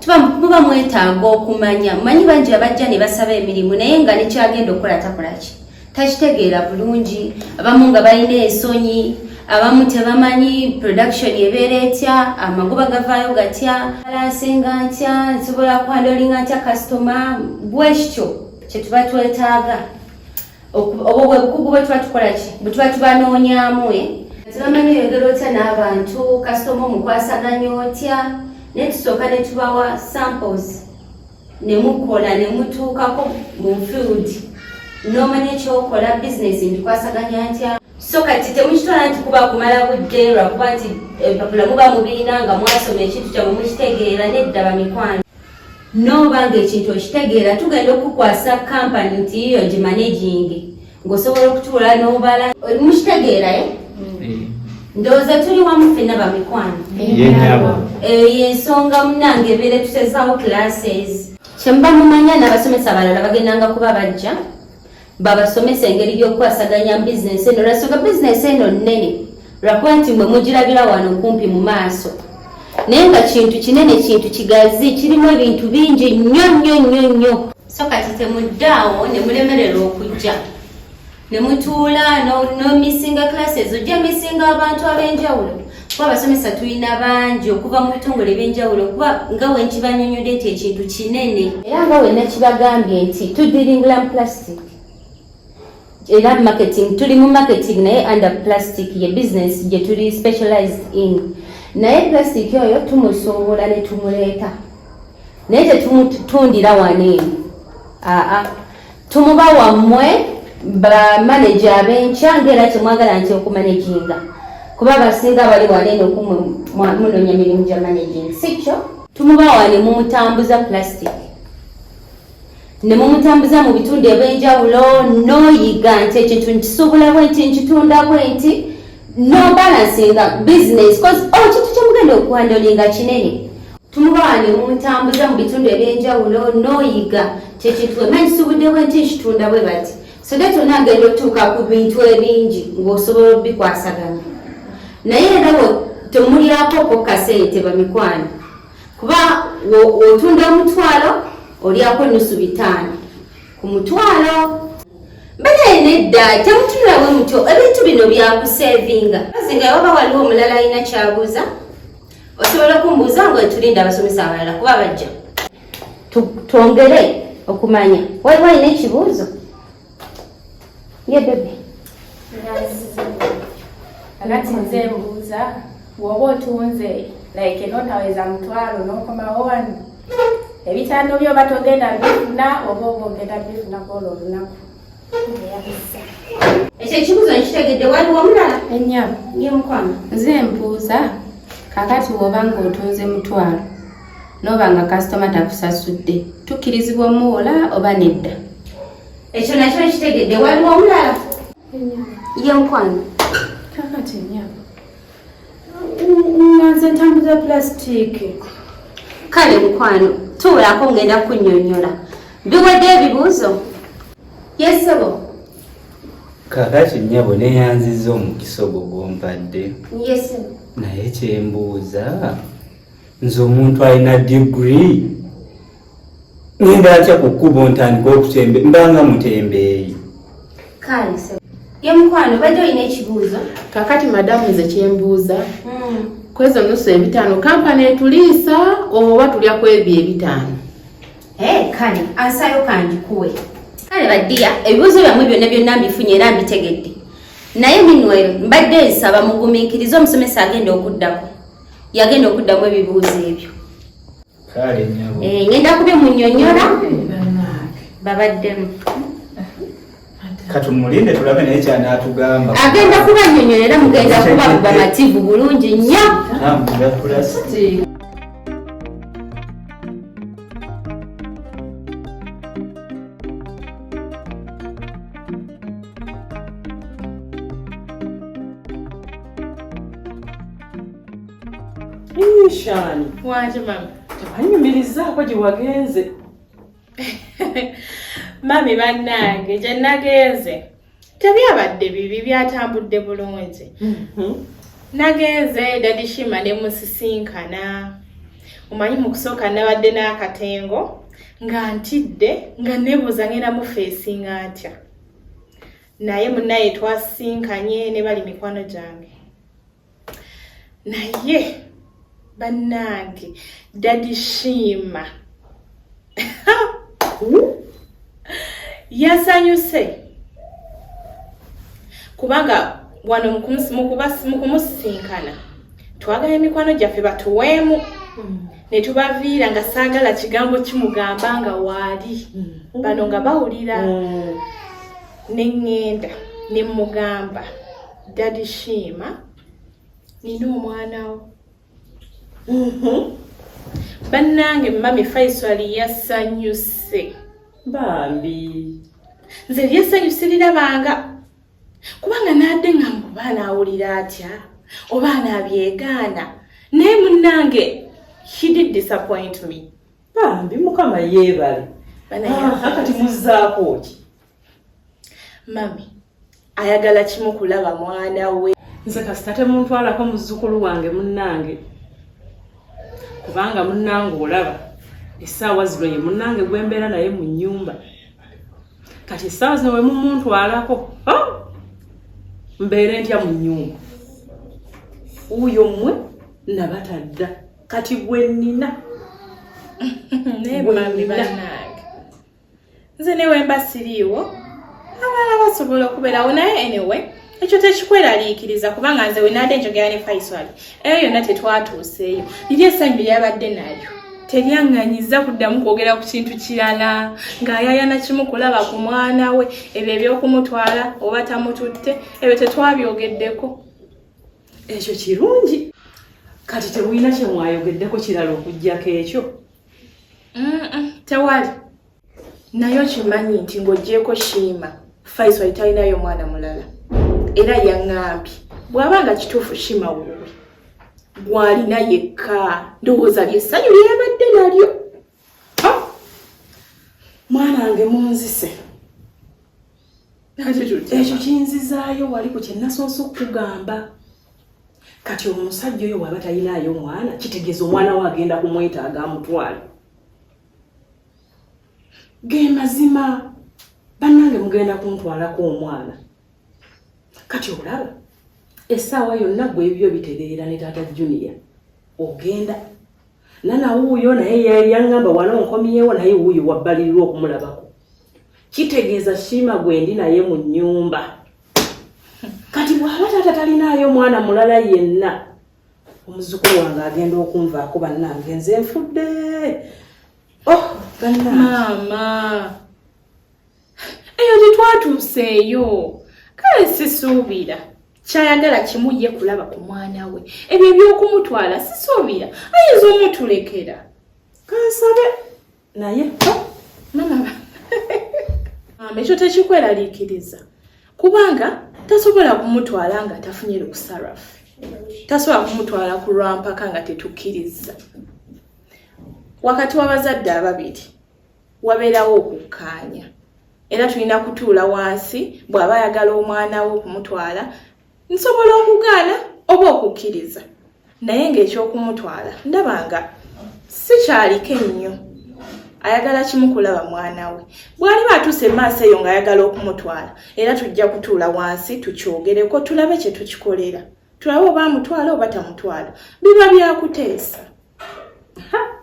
tuba muba mwetaaga okumanya manyi bangi abajja ne basaba emirimu naye nga nekyagenda okukola takolaki takitegeera bulungi abamu nga balina ensonyi abamu tebamanyi production ebeera etya amagoba gavaayo gatya alansinga ntya nsobola kwandolinga ntya kasitoma bwekityo kyetuba twetaaga obwo bwe bukugu bwe tuba tukola ki bwe tuba tubanoonyamu e tebamanyi oyogera otya n'abantu kasitoma omukwasaganya otya naye tusooka ne tubawa samples ne mukola ne mutuukako mu field n'omanya ekyokola bizinesi mbikwasaganya ntya so kati temukitwala nti kuba kumala budde lwakuba nti empapula muba mubiina nga mwasoma ekintu kyamwe mukitegeera nedda bamikwano n'oba ng'ekintu okitegeera tugenda okukukwasa kampani nti yiyo gimanegingi ng'osobola okutuula n'obala oli mukitegeerayo eh? eh. ndowooza tuli wamu fenna bamikwano eyo yensonga munange ebeere tutezawo classes kyemuba mumanya n'abasomesa abalala bagendanga kuba bajja babasomesa engeri y'okukwasaganya mu bizinensi eno lwensonga bizinensi eno nnene lwakuba nti mwe mugirabira wano okumpi mu maaso naye nga kintu kinene kintu kigazi kirimu ebintu bingi nnyo nnyo nnyo nnyo so kati temuddaawo ne mulemererwa okujja ne mutuula nomisinga classes ojja misinga abantu ab'enjawulo kuba abasomesa tulina bangi okuva mu bitongole ebyenjawulo kuba nga wenkibanyonyode nti ekintu kinene era nga wenakibagambye nti tudiringula mu plastic era marketing tuli mu marketing naye under plastic ye business gye tuli specialized in naye plastic oyo tumusuubula ne tumuleeta naye tetumutundira wano eno aa tumuba wammwe bamaneja abenkya ngaera kyemwagala nti okumaneginga kuba abasinga bali waneeno kumwe munonya mirimu gya managing sikyo tumuba wane mumutambuza plastic ne mumutambuza mu bitundu ebyenjawulo noyiga nti ekintu nkisobola bwenti nkitunda bwenti no balansinga business cause oh kintu kyemugenda okuwandolinga kinene tumubawa ne mumutambuza mu bitundu ebyenjawulo noyiga kyekintu emanyi kisubudewo nti nkitunda bwe bati so that ona agenda otuuka ku bintu ebingi ng'osobola obikwasaganya naye era temulyako ko kasente bamikwano kuba otunda omutwalo olyako nusu bitaano ku mutwalo mbanaye nedda temutunula bwe mutyo ebintu bino byakusevinga azinga waba waliwo omulala alina kyabuuza osobola okumbuuza nga etulinda abasomesa abalala kuba bajja twongere okumanya waliwo alina ekibuuzo Ye bebe. Anati nze mbuuza woba otunze like enotaweza mutwalo nokomawo wano ebitando byo oba togenda bifuna oba oba ogenda bifuna kwolo olunaku ekyo ekibuzo nkitegedde waliwo omulala enya ye mukwano nze mbuuza kakati woba nga otunze mutwalo noba nga kasitoma takusasudde tukkirizibwa omuwola oba nedda ekyo nakyo nkitegedde waliwo omulala ye mukwano kakati nyabo nanze ntambuza pulasitiiki kale mukwano tuulako ngenda kunyonyola biwedde ebibuuzo yesebo kakati nyabo neyanziza omukisa ogwo gwompadde yesebo naye kyembuuza nze omuntu alina digiri Ngenda atya ku kkubo ntandika okutembe mbanga mutembeeyi. Kaalise. Ye mukwano bajja olina ekibuuzo. Kakati madamu nze kyembuuza. Hmm. Kwezo nusu ebitaano kampani etuliisa oba tulya kwebyo ebitaano. Eh, kale ansayo kandikuwe. Kale badiya ebibuuzo byamwe byonna byonna mbifunye era mbitegedde. Naye Minwell mbadde nsaba mugumiikirize omusomesa agenda okuddako. Yagenda okuddamu ebibuuzo ebyo. eh, ngenda kubimunyonyola babaddemu katumulinde tulabe naye kyanatugamba agenda kubanyonyola era mugenda kuba bamativu bulungi nnyo Nishani. Waje mama. Anyumirizaako gye wagenze. Mami bannange gye nagenze tebyabadde bibi byatambudde bulungi. Mhm. Nagenze dadi Shima ne musisinkana. Omanyi mu kusooka nabadde n'akatengo nga ntidde nga nebuuza ngenda mu feesi nga ntya. Naye munaye twasisinkanye ne bali mikwano gyange. naye bannange dadi shiima yasanyuse kubanga wano mukumusisinkana twagala emikwano gyaffe batuweemu hmm. netubaviira nga saagala kigambo kimugamba nga waali hmm. bano nga bawulira hmm. neŋŋenda ne mugamba Daddy Shima, nina omwana wo. Mhm. Bannange mami Faisal yasanyuse. Bambi. Nze lyesanyuse lirabanga kubanga naadde nga muba anaawulira atya oba anaabyegaana naye munnange he did disappoint me. Bambi mukama yeebale. Bana ah, kati muzzaako ki? Mami. ayagala kimu kulaba mwana we nze kasita temuntwalako muzzukulu wange munnange kubanga munnange olaba essaawa zino ye munnange gwembeera naye mu nnyumba kati essaawa zino wemumuntwalako oh! mbeere ntya mu nnyumba wuuyo mmwe nabatadda kati gwe nnina nze newemba siriiwo abalala basobola okubeerawo naye enewe ekyo tekikweraliikiriza kubanga nze wenaadde njogera ne faisal eyo yonna tetwatuuseeyo liri essanyu lyeyabadde nalyo teryaŋŋanyiza kuddamu kwogera ku kintu kirala ng'ayayana kimu kulaba ku mwana we ebyo ebyokumutwala oba tamututte ebyo tetwabyogeddeko ekyo kirungi kati temulina kyemwayogeddeko kirala okugyako ekyo tewali naye okimanyi nti ng'ogyeko shiima faisal talinayo omwana mulala era yaŋambye bw'aba nga kituufu shiima wuwe gwalina yekka ndowooza lyessanyu lyeyabadde nalyo mwana wange munzise ekyo kinzizaayo wali ku kyenasoose okukugamba kati omusajja oyo waba talinaayo omwana kitegeeza omwana we agenda kumwetaaga amutwale ge mazima bannange mugenda kuntwalako omwana kati olaba essaawa yonna gwe ebyo bitereera ne taata junia ogenda nana wuuyo naye yaŋŋamba wano nkomyewo naye wuuyo wabbalirwa okumulabako kitegeeza shiima gwendi naye mu nyumba kati bwaba taata talinaayo mwana mulala yenna omuzukulu wange agenda okunvaako bannange nze nfudde oh maama eyo tetwatuuseeyo kale sisuubira kyayagala kimu ye kulaba ku mwana we ebyo ebyokumutwala sisuubira ayinza omutulekera kansabe naye mama mama ekyo tekikweraliikiriza kubanga tasobola kumutwala nga tafunye lukusarafu tasobola kumutwala ku lwampaka nga tetukkiriza wakati w'abazadde ababiri wabeerawo okukkaanya era tulina kutuula wansi bw'aba ayagala omwana we okumutwala nsobola okugaana oba okukkiriza naye ng'ekyokumutwala ndaba nga sikyaliko ennyo ayagala kimu kulaba mwana we bw'aliba atuuse emaaso eyo ng'ayagala okumutwala era tujja kutuula wansi tukyogereko tulabe kye tukikolera tulabe oba amutwala oba tamutwala biba byakuteesa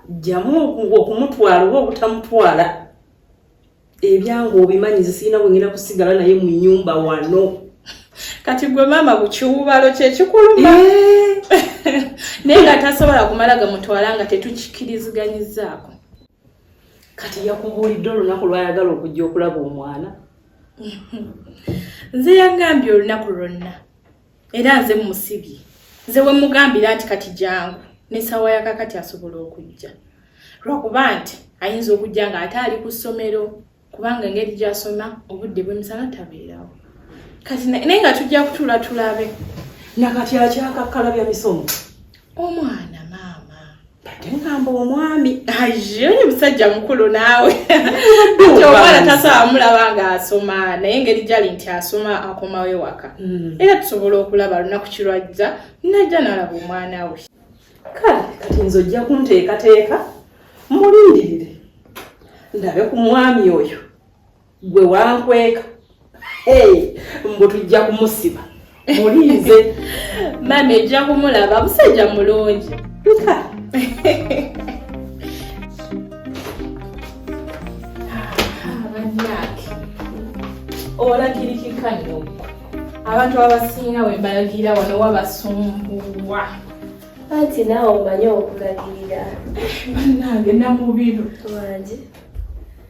jjamu okumutwala oba obutamutwala ebyange obimanyi zisirina wengenda kusigala naye mu nyumba wano kati gwe maama kukiwubalo kyekikuluma naye nga tasobola kumala gamutwala nga tetukikiriziganyizaako kati yakubuulidde olunaku lwayagala okujja okulaba omwana nze yagambye olunaku lwonna era nze musibye nze wemugambira nti kati jangu nesawa yakakati asobola okujja lwakuba nti ayinza okujja nga ate ali ku ssomero kubanga engeri gyasoma obudde bwemisana tabeerawo kati naye nga tujja kutuula tulabe nakati akyakakkalabya misomo omwana maama bate ngamba omwami ayonye musajja mukulu naawe nti omwana tasobola mulaba nga asoma naye engeri gyali nti asoma akomawo ewaka hmm. era tusobola okulaba lunaku kirwajja najja nalaba omwana we kale kati nze ojja kunteekateeka mulindirire ndabe ku mwami oyo gwe wankweka mbu tujja kumusiba mulinze mami ejja kumulaba musajja mulungi olagirikika nyo abantu abasinga wembalagira wano wabasumbuwa anti naawe omanyi okulagirira banange namubiru wangi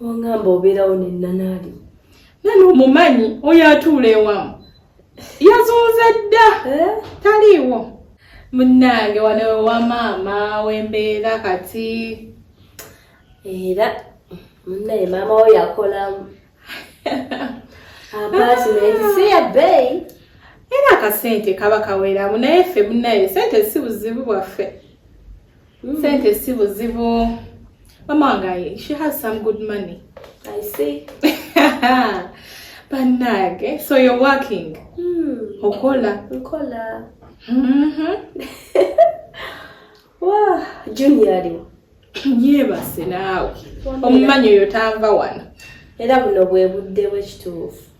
Ongamba obeerawo ne nanaali. Nani omumanyi oyo atuula ewamu. Yazunze dda. Eh? Taliiwo. Munnange wano ewa maama wembeera kati. Era munnaye maama wo yakolamu. Abaasi naye si ya bbeeyi. Era akasente kaba kaweramu naye ffe munnaye sente si buzibu bwaffe. Mm. Sente si buzibu. Mama wange she has some good money. I see. Banage, so you're working? Mm. Okola. Okola. Mhm. Wow, junior aliwo. Yebase naawe. Omumanyi oyo tanva wano. Era buno bwe budde bw'ekituufu.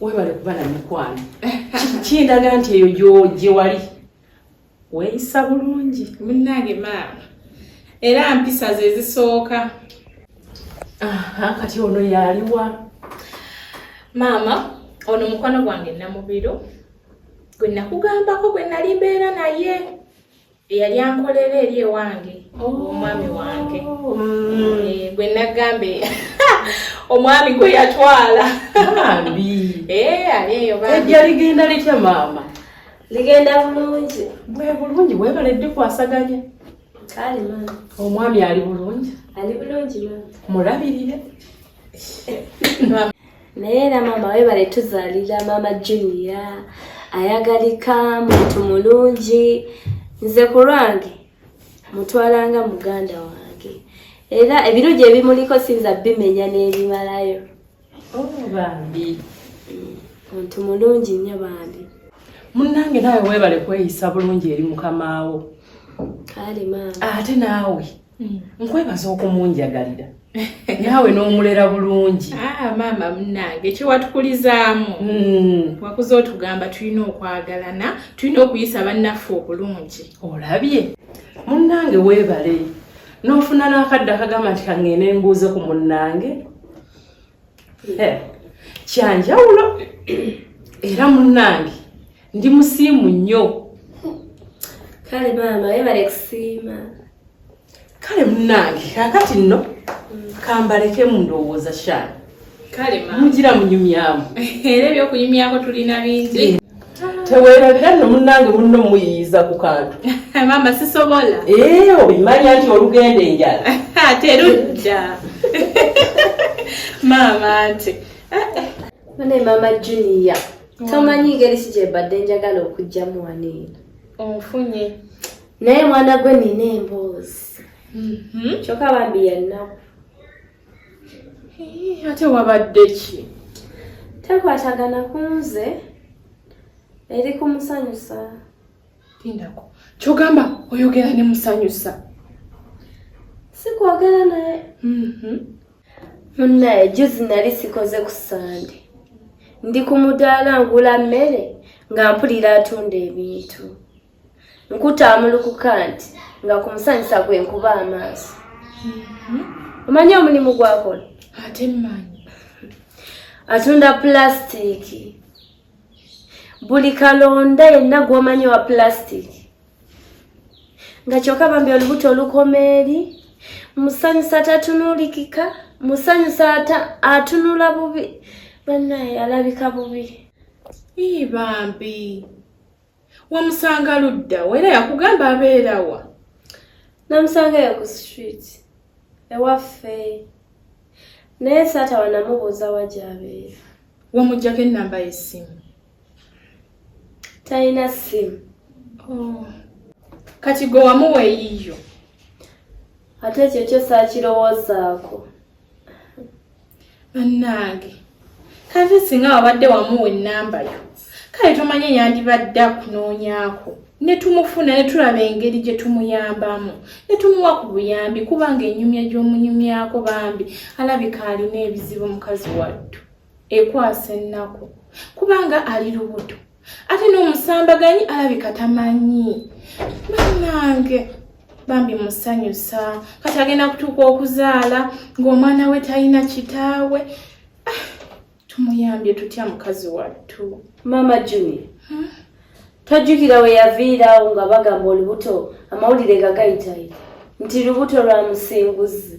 webale kuba na mikwano kindaga nti eyo gye wali weeyisa bulungi munnange maama era mpisa ze zisooka kati ono yaliwa maama ono mukwano gwange namubiro gwe nakugambako gwe nali mbeera naye eyali ankolera eri ewange omwami wange oh, mm. eh, gwe nagamba omwami gwe yatwala eh, ali eyo ejja ligenda litya maama ligenda bulungi bwe bulungi webale dikwasaganya kale maama omwami ali bulungi ali bulungi maama mulabirire naye era maama webale tuzalira maama junia ayagalika muntu mulungi nze ku lwange mutwalanga muganda wange era ebirungi ebimuliko sinza bimenya n'ebimalayo oh, bambi mm, muntu mulungi nnyo bambi munnange naawe weebale kweyisa bulungi eri mukamaawo ate naawe Mm. nkwebaza okumunjagalira naawe n'omulera bulungi ah, maama munange kyewatukuzaamu mm. wakuza otugamba tulina okwagalana tulina okuyisa bannaffe obulungi olabye munnange weebale n'ofuna n'akadde akagamba nti kangende mbuuze ku munnange eh, kyanjawulo era munnange ndi musiimu nnyo kale maama webale kusiima kale munnange kakati nno mm. kambaleke mu ndowooza shaani mugira munyumyamu era ebyokunyumyako tulina bingi eh. tewerabira no munange munno muyiyiza ku kantu mama sisobola ee eh, obimanya nti olugenda enjala terujja maama nti mune maama junia tomanyi ngeri ki gyebadde njagala okugjamu waniina onfunye naye mwana gwe nina emboozi mhm. kyokka bambi yannaku ate wabadde ki tekwatagana kunze eri kumusanyusa tindako kyogamba oyogera ne musanyusa sikwogera naye mhm. munaye juzi nali sikoze ku sande ndi ku mudaala ngula mmere nga mpulira atunda ebintu nkutaamulukuka nti nga ku musanyusa gwe nkuba amaaso mm-hmm. omanyi omulimu gwakola ate mmanyi atunda pulasitiiki buli kalonda yenna gwomanyi wa pulasitiiki nga kyokka bambi olubuto olukoma eri musanyusa tatunuulikika musanyusa atunula bubi bannaye alabika bubi ii bambi wamusanga ludda wa era yakugamba abeerawa namusangayo ku street ewaffe naye saata wanamubuuza wa gyabeera wamugjako ennamba yessimu talina simu oh. kati gwe wamuwa eyiyo ate ekyo kyo saakirowoozaako bannange kati singa wabadde wamuwa ennamba yo kale tomanye yandibadde akunoonyaako ne tumufuna ne tulaba engeri gye tumuyambamu ne tumuwa ku buyambi kubanga enyumya gy'omunyumyako bambi alabika alina ebizibu mukazi wattu ekwasa ennaku kubanga ali lubuto ate n'omusambaganyi alabika tamanyi banange bambi musanyusa kati agenda kutuuka okuzaala ng'omwana we talina kitaawe ah, tumuyambye tutya mukazi wattu maama juni hmm? tojjukira we yaviirawo nga bagamba olubuto amawulire nga gayitayo nti lubuto lwa musinguzi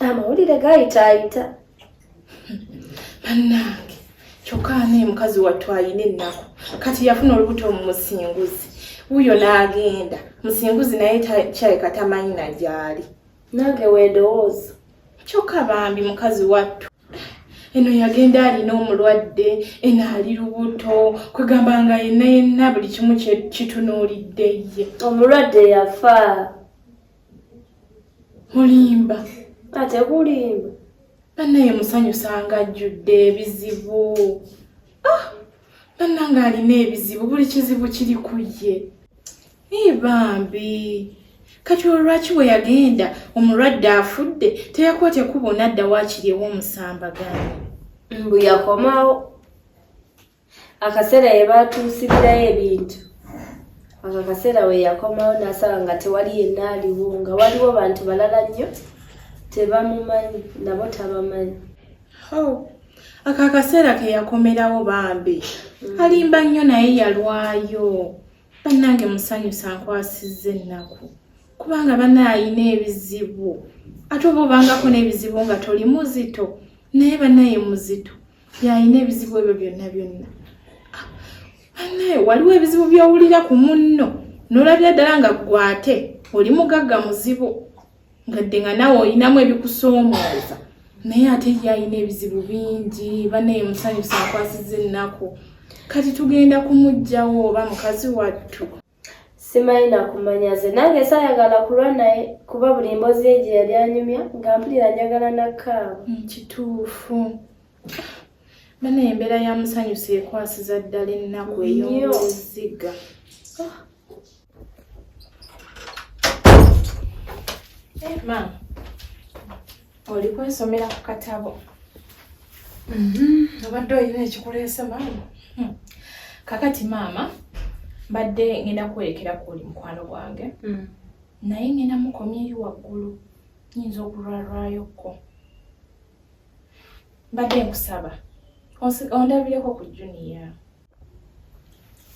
amawulire gayitaayita bannange kyokka naye mukazi wattu alina ennaku kati yafuna olubuto mu musinguzi wuyo n'agenda musinguzi naye kyaleka tamanyi na gyali nange weedowooza kyokka bambi mukazi wattu eno yagenda alina omulwadde eno ali lubuto kwegamba nga yenna yenna buli kimu kitunuulidde ye omulwadde yafa mulimba ate kulimba banaye musanyusa nga ajjudde ebizibu ah! banna nga alina ebizibu buli kizibu kiri ku ye naye bambi kati olwaki bwe yagenda omulwadde afudde teyakuba tekuba onadda wakiri ewomusambagani mbu yakomawo akaseera ye baatuusibirayo ebintu ako akaseera we yakomawo n'asaba nga tewali yenna aliwo nga waliwo bantu balala nnyo tebamumanyi nabo tabamanyi ako akaseera ke yakomerawo bambi mm. alimba nnyo naye yalwayo bannange musanyusa nkwasizza ennaku kubanga bana alina ebizibu ate oba obangako n'ebizibu nga toli muzito naye banaye muzito yalina ebizibu ebyo byonna byonna ah, anaye waliwo ebizibu byowulira ku munno nolabira ddala nga gwate oli mugagga muzibu ngadde nga nawe olinamu ebikusoomooza naye ate ye alina ebizibu bingi banaye musanyusa akwasiza ennaku kati tugenda kumugjawo oba mukazi wattu simanyi nakumanya nze nange sayagala kulwa naye kuba buli mbozi ye gye yali anyumya nga mpulira njagala nakaawa mm, kituufu bana embeera ya musanyusa ekwasiza ddala ennaku ey'omuziga ah. eh, maama oli kwesomera ku katabo mm-hmm. obadde olina ekikuleese maama hmm. kakati maama mbadde ngenda kuwerekera ku oli mukwano gwange hmm. naye ngenda mukomya eri waggulu nyinza okulwalwayokko mbadde nkusaba ondabireko ku juniya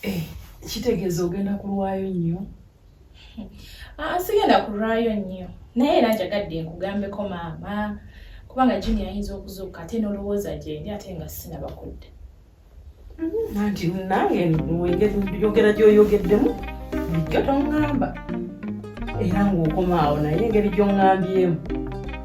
Eh, kitegeeza ogenda kulwayo nnyo ah, sigenda kulwayo nnyo naye era njagadde nkugambeko maama kubanga jini ayinza okuzuuka ate n'olowooza gyendi ate nga sinaba kudda mm-hmm. anti nange yogera gyoyogeddemu bulijjo toŋŋamba era ng'okomaawo naye engeri gy'oŋŋambyemu